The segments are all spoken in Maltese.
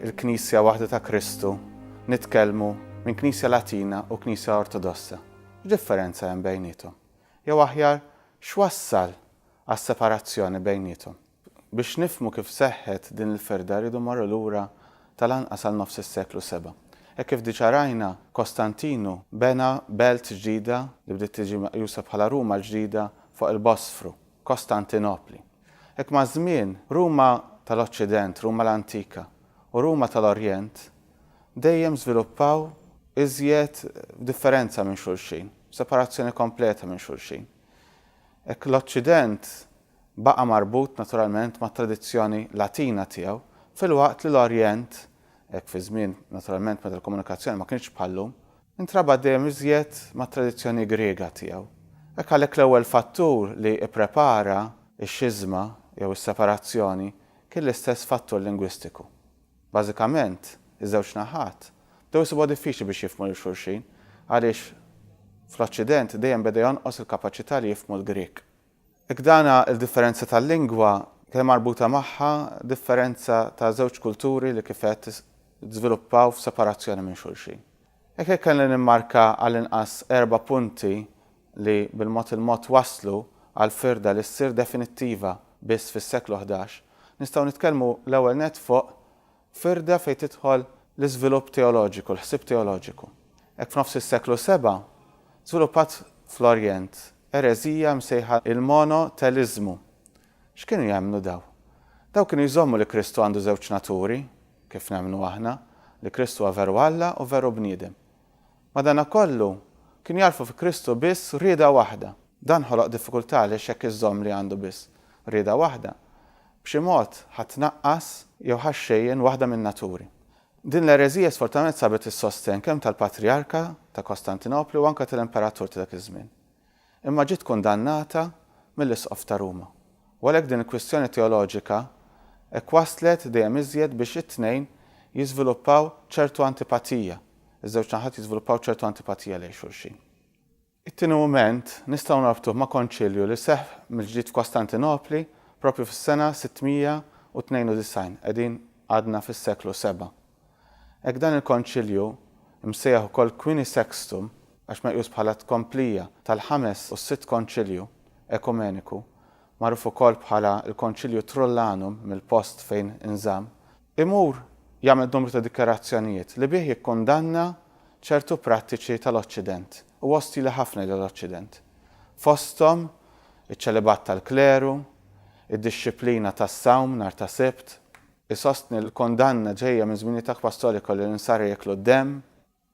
il-Knisja waħda ta' Kristu, nitkellmu minn Knisja Latina u Knisja Ortodossa. X'differenza hemm bejniethom? Jew aħjar, x'wassal għas-separazzjoni bejniethom? Biex nifhmu kif seħħet din il-firda rridu mmorru lura tal-anqas għal nofs is-seklu seba'. Hekk kif diġà rajna, Kostantinu bena belt ġdida li bdiet tiġi meqjusa bħala Ruma l-ġdida fuq il-Bosfru. Kostantinopli. Hekk maż-żmien, Ruma tal-Oċċident, Ruma l-Antika, u Ruma tal-Orjent dejjem żviluppaw iżjed f'differenza minn xulxin, f'separazzjoni kompleta minn xulxin. Hekk l-Oċċident baqa' marbut naturalment mat-tradizzjoni Latina tiegħu, filwaqt li l-Orjent, hekk fiż-żmien naturalment meta l-komunikazzjoni ma kinitx bħal-lum, Intrabat dejjem iżjed mat-tradizzjoni Griega tiegħu. Hekk għalhekk l-ewwel fattur li pprepara x-xiżma jew is-separazzjoni kien l-istess fattur lingwistiku. Bażikament, iż-żewġ naħat bdew isibuha diffiċli biex jifhmu lil xulxin għaliex fl-Oċċident dejjem beda jonqos il-kapaċità li jifhmu l-Grieg. Jekk dan hu l-differenza tal-lingwa, kien hemm marbuta magħha differenza ta' żewġ kulturi li kif għedt żviluppaw f'separazzjoni minn xulxin. Jekk hekk kelli nimmarka għallinqas erba' punti li bil-mod il-mod wasslu għal firda li ssir definittiva biss fis-seklu ħdax, nistgħu nitkellmu l-ewwel nett fuq Firda fejn tidħol l-iżvilupp teoloġiku, l-ħsieb teoloġiku. Hekk f'nofs is-seklu seba' żviluppat fl-Orjent ereżija msejħa l-monoteliżmu. X'kienu jemmnu dawn? Dawn kienu jżommu li Kristu għandu żewġ naturi, kif nemmnu aħna, li Kristu huwa veru Alla u veru bniedem. Madanakollu, kienu jagħrfu fi Kristu biss rieda waħda. Dan ħoloq diffikultà għaliex jekk iżżomm li għandu biss rieda waħda, b'xi mod ħa tnaqqas jew ħa xxejjen waħda min-naturi. Din l-ereżija sfortunatament sabet is-sostenn kemm tal-Patrijarka ta' Kostantinopli u anke tal-Imperatur ta' dak iż-żmien. imma ġiet kundannata mill-Isqof ta' Ruma, u għalhekk din il-kwistjoni teoloġika hekk wasslet dejjem iżjed biex it-tnejn jiżviluppaw ċertu antipatija, iż-żewġ naħat jiżviluppaw ċertu antipatija lejn xulxin. It-tieni mument nistgħu norbtuh ma' Konċilju li seħħ mill-ġdid f'Kostantinopli proprju fis-sena 692, qegħdin għadna fis-seklu seba', Hekk dan il-Konċilju, imsejjaħ ukoll Quini Sextum għax meqjus bħala tkomplija tal-Ħames u s-Sitt Konċilju Ekumeniku, magħruf ukoll bħala l-Konċilju Trullanum mill-post fejn inżamm, imur jagħmel numru ta' dikjarazzjonijiet li bih jikkundanna ċertu prattiċi tal-Oċċident u ostili ħafna lejn l-Oċċident, fosthom iċ-ċelibat tal-kleru, id-dixxiplina tas-sawm nhar ta' Sibt, Isostni li l-kundanna ġejja minn żminijiet akbar storiku li l-insara jieklu d-demm,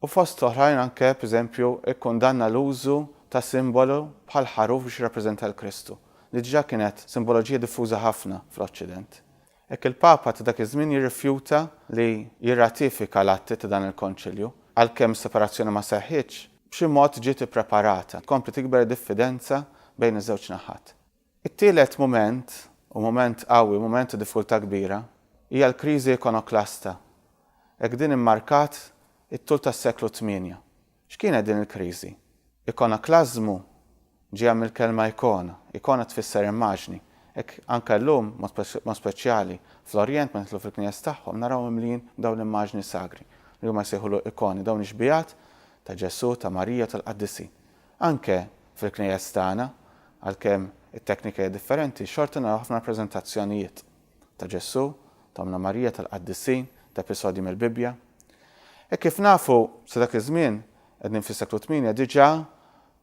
u fost l-oħrajn anke, p'eżempju, ikkundanna l-użu ta' simbolu bħal ħaruf biex jirrappreżenta 'l Kristu, li diġà kienet simboloġija diffuża ħafna fl-Oċċident. Hekk il-Papa ta' dak iż-żmien jirrifjuta li jirratifika l-atti ta' dan il-Konċilju, għalkemm is-separazzjoni ma seħħitx, b'xi mod ġiet ippreparata, tkompli tikber id-diffidenza bejn iż-żewġ naħat. It-tielet mument, u mument qawwi, mument ta' diffikultà kbira, hija l-kriżi ikonoklasta. Hekk din immarkat it-tul tas-seklu tmienja. X'kienet din il-kriżi? Ikonoklażmu ġejja mill-kelma ikona. Ikona tfisser immaġni. Hekk anke llum, b'mod speċjali fl-Orjent, meta nidħlu fil-knejjes tagħhom, narawhom mimlijin b'dawn l-immaġni sagri, li huma jsejħulhom ikoni, dawn ix-xbiehat ta' Ġesù, ta' Marija u tal-qaddisin. Anke fil-knejjes tagħna, għalkemm it-teknika hija differenti, xorta naraw ħafna rappreżentazzjonijiet, ta' Ġesù, ta' Ommna Marija, tal-Qaddisin, ta' episodji mill-Bibbja. Hekk kif nafu, sa dak iż-żmien, qegħdin fis-seklu tmienja, diġà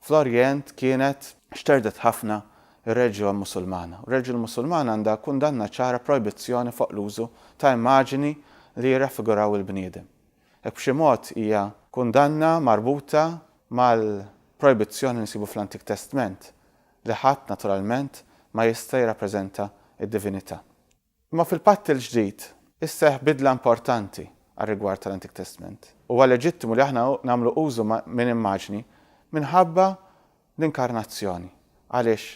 fl-Orjent kienet xterdet ħafna r-reliġjon Musulmana, u r-reliġjon Musulmana għandha kundanna ċara, projbizzjoni fuq l-użu ta' immaġini li jirraffiguraw il-bniedem. Hekk b'xi mod hija kundanna marbuta mal-projbizzjoni li nsibu fl-Antik Testment, li ħadd, naturalment, ma jista' jirrappreżenta d-divinità. Imma fil-Patt il-Ġdid isseħħ bidla importanti għar-rigward tal-Antik Testment. Huwa leġittimu li aħna nagħmlu użu minn immaġni minħabba L-Inkarnazzjoni, għaliex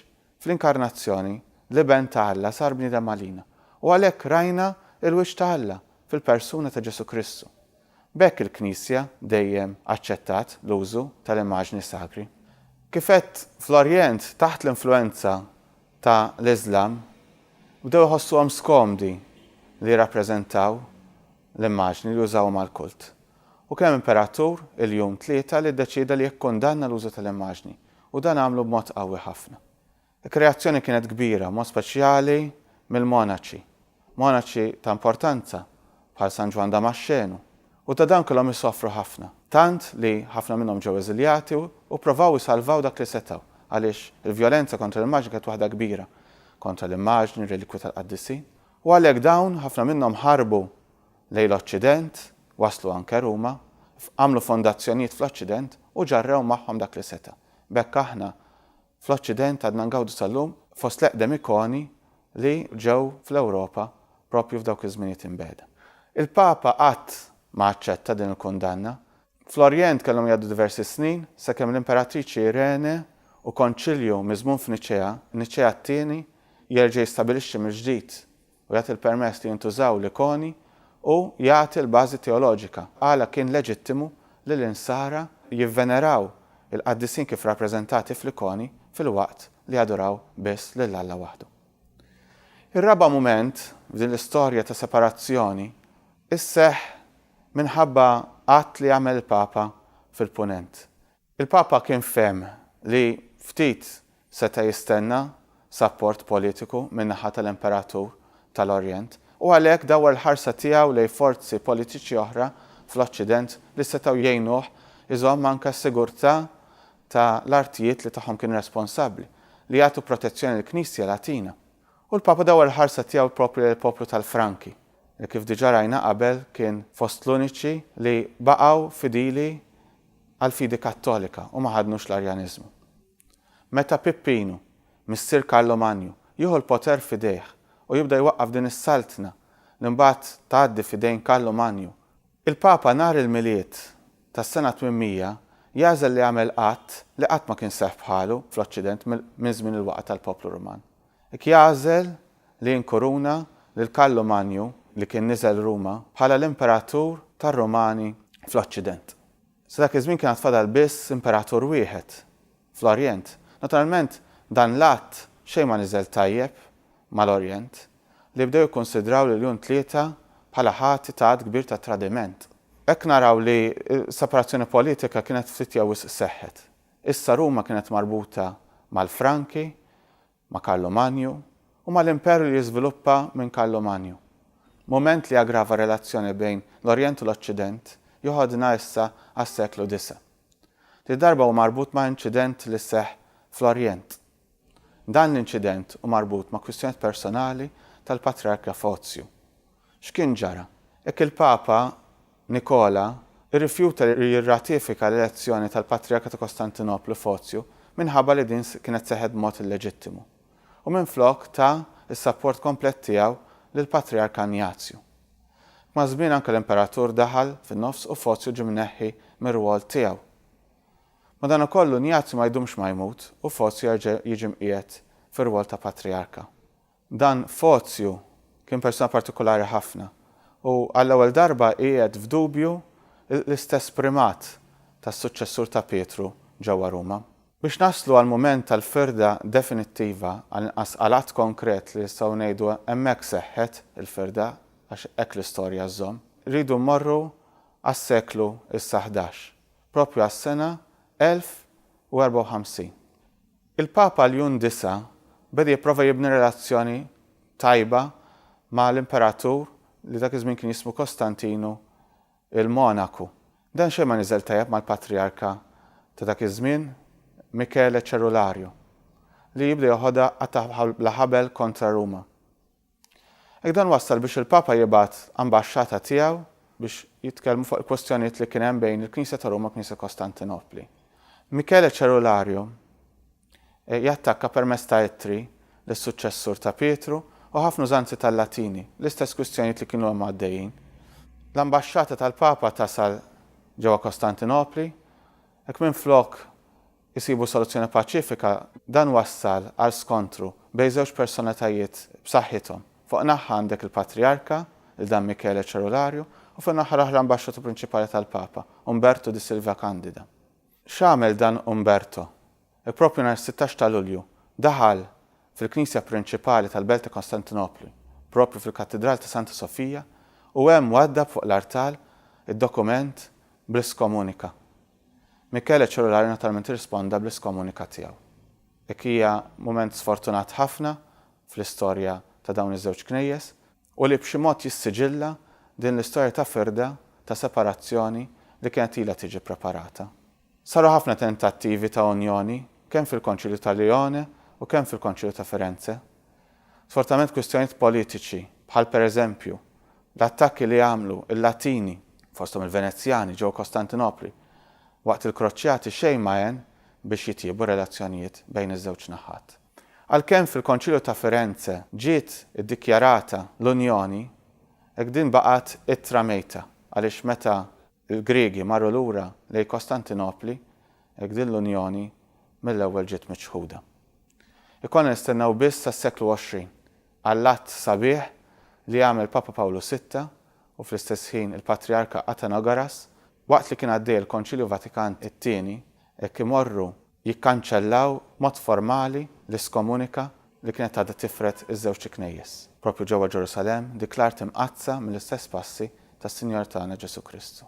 fl-Inkarnazzjoni l-Iben ta' Alla sar bniedem għalina, u għalhekk rajna l-wiċċ ta' Alla fil-persuna ta' Ġesù Kristu. B'hekk il-Knisja dejjem aċċettat l-użu tal-immaġni sakri. Kif għedt, fl-Orjent, taħt l-influwenza ta' l-Iżlam, bdew iħossuhom skomdi li jirrappreżentaw l-immaġni li użawhom għall-kult. U kien hemm imperatur, il-Jun Tlieta, li ddeċieda li jikkundanna l-użu tal-immaġni, u dan għamlu b'mod qawwi ħafna. Il-kreazzjoni kienet kbira, b'mod speċjali mill-monaċi, monaċi ta' importanza bħal San Ġwann Damaxxenu, u ta' dawn kellhom isofru ħafna, tant li ħafna minnhom ġew eżiljati u pprovaw isalvaw dak li setgħu, għaliex il-vjolenza kontra l-immaġni kienet waħda kbira, kontra l-immaġni, r-relikwi tal-qaddisin, U għalhekk dawn, ħafna minnhom ħarbu lejn l-Oċċident, waslu anke Ruma, għamlu fondazzjonijiet fl-Oċċident u ġarrew magħhom dak li seta'. B'hekk aħna fl-Oċċident għadna ngawdu sal-lum fost l-eqdem ikoni li ġew fl-Ewropa proprju f'dawk iż-żminijiet imbegħda. Il-Papa qatt ma aċċetta din il-kundanna, Fl-Orjent kellhom jgħaddu diversi snin sakemm l-Imperatriċi Irene u Konċilju miżmum f'Niċea, Niċea t-Tieni, jerġa' jistabilixxi mill-ġdid u jagħti l-permess li jintużaw l-ikoni u jagħti l-bażi teoloġika għala kien leġittimu li l-Insara jivveneraw il-qaddisin kif rappreżentati fl-ikoni filwaqt li jaduraw biss lil Alla waħdu. Ir-raba' mument f'din l-istorja ta' separazzjoni sseħħ minħabba att li għamel il-Papa fil-Punent. Il-Papa kien fehem li ftit seta' jistenna sapport politiku min-naħa tal-Imperatur tal-Orjent u għalhekk dawwar l-ħarsa tiegħu lejn forzi politiċi oħra fl-Oċċident li setgħu jgħinuh iżomm anke s-sigurtà ta' l-artijiet li tagħhom kien responsabbli, li jagħtu protezzjoni lill-Knisja Latina. U l-Papa dawwar l-ħarsa tiegħu proprju lejn il-poplu tal-Franki. li kif diġà rajna qabel kien fost l-uniċi li baqgħu fidili għall-fidi Kattolika u ma ħadnux l-Arjaniżmu. Meta Pippinu, missier Karlo Manju, jieħu l-poter f'idejh u jibda jwaqqaf din is-saltna li mbagħad tgħaddi f'idejn Karlu Manju, il-Papa nhar il-Milied tas-sena 800 jagħżel li jagħmel att li qatt ma kien seħħ bħalu fl-Oċċident minn żmien il-waqgħa tal-poplu Ruman. Jagħżel li inkuruna lil Karlu Manju li kien niżel Ruma bħala l-imperatur tar-Rumani fl-Oċċident. Sa dak iż-żmien kien għad fadal biss imperatur wieħed fl-Orjent. Naturalment dan l-att xejn ma niżel tajjeb mal-Orjent li bdew jikkunsidraw lil Jun Tlieta bħala ħati ta' għadd kbir ta' tradiment. Hekk naraw li s-separazzjoni politika kienet ftit jew wisq seħħet. Issa Ruma kienet marbuta mal-Franki, ma' Karlu Manju u mal-Imperu li jiżviluppa minn Karlu Manju. Mument li aggrava r-relazzjoni bejn l-Orjent u l-Oċċident joħodna issa għas-seklu disa'. Di darba hu marbut ma' inċident li seħħ fl-Orjent. Dan l-inċident hu marbut ma' kwistjonijiet personali tal-Patriark Rafozju. X'kien ġara? Hekk il-Papa Nikola rrifjuta li jirratifika l-elezzjoni tal-Patrijarka ta' Kostantinoplu Fozju minħabba li din kienet seħħet b'mod illeġittimu, u minflok ta s-sapport komplet tiegħu lill-Patrijark Anjazju. Maż-żmien anke l-Imperatur daħal fin-nofs u Fozju ġie mneħħi mir-rwol tiegħu. Madankollu Njazju ma jdumx ma jmut u Fozju jerġa' jiġi mqiegħed fir-rwol ta' Patrijarka. Dan Fozju kien persuna partikulari ħafna u għall-ewwel darba qiegħed f'dubju l-istess primat tas-suċċessur ta' Pietru ġewwa Ruma. Biex naslu għall-mument tal-firda definittiva, għall-inqas għal att konkret li nistgħu ngħidu hemmhekk seħħet il-firda, għax hekk l-istorja żżomm, irridu mmorru għas-seklu issa ħdax, proprju għas-sena 1054. Il-Papa Ljun Disa' beda jipprova jibni relazzjoni tajba ma' l-Imperatur li dak iż-żmien kien jismu Kostantinu il-Monaku. Dan xejn ma niżel tajjeb mal-Patrijarka ta' dak iż-żmien, Michele Cerularju, li jibda joħodha attack bla ħabel kontra Ruma. Hekk dan wassal biex il-Papa jibgħat ambaxxata tiegħu biex jitkellmu fuq il-kwestjonijiet li kien hemm bejn il-Knisja ta' Ruma u l-Knisja Kostantinopli. Michele Cerulariu jattakka permezz ta' ittri lis-suċċessur ta' Pietru u ħafna użanzi tal-Latini, l-istess kwistjonijiet li kienu hemm għaddejjin. L-ambaxxata tal-Papa tasal ġewwa Kostantinopli, hekk minflok isibu soluzzjoni paċifika, dan wassal għal skontru bejn żewġ personalitajiet b'saħħithom. Fuq naħħa għandek il-Patrijarka, il Dam Michele Cerularju, u fin-naħa l-oħra l-Ambaxxatur Prinċipali tal-Papa, Umberto di Silvia Candida. X'għamel dan Umberto? Proprju nhar is-sittax ta' Lulju daħal fil-Knisja Prinċipali tal-Belt ta' Kostantinopli, proprju fil-Kattidral ta' Santa Sofia, u hemm waddab fuq l-artal id-dokument bl-iskomunika. Michele Ciurlari naturalment irrisponda bl-iskomunikat tiegħu. Dik hija mument sfortunat ħafna fl-istorja ta' dawn iż-żewġ knejjes u li b'xi mod jissiġilla din l-istorja ta' firda, ta' separazzjoni li kienet ilha tiġi ppreparata. Saru ħafna tentattivi ta' unjoni kemm fil-Konċilju ta' Lione u kemm fil-Konċilju ta' Firenze. Sfortunatament kwistjonijiet politiċi, bħal pereżempju, l-attakki li għamlu l-Latini, fosthom il-Venezjani, ġewwa Kostantinopli waqt il-Kroċjati xejn ma għen biex jitjiebu r-relazzjonijiet bejn iż-żewġ naħat. Għalkemm fil-Konċilju ta' Firenze ġiet iddikjarata l-unjoni, hekk din baqgħet ittra mejta għaliex meta Il-Griegi marru lura lejn Kostantinopli hekk din l-unjoni mill-ewwel ġiet miċħuda. Ikollna nistennew biss sas-seklu 20 għall-att sabiħ li għamel Papa Pawlu Sitta u fl-istess ħin il-Patrijarka Athanagoras waqt li kien għaddej il-Konċilju Vatikan it-Tieni hekk imorru jikkanċellaw b'mod formali l-iskomunika li kienet għadha tifred iż-żewġt Knejjes, proprju ġewwa Ġerusalemm, dik l-art imqaddsa mill-istess passi tas-Sinjor tagħna Ġesù Kristu.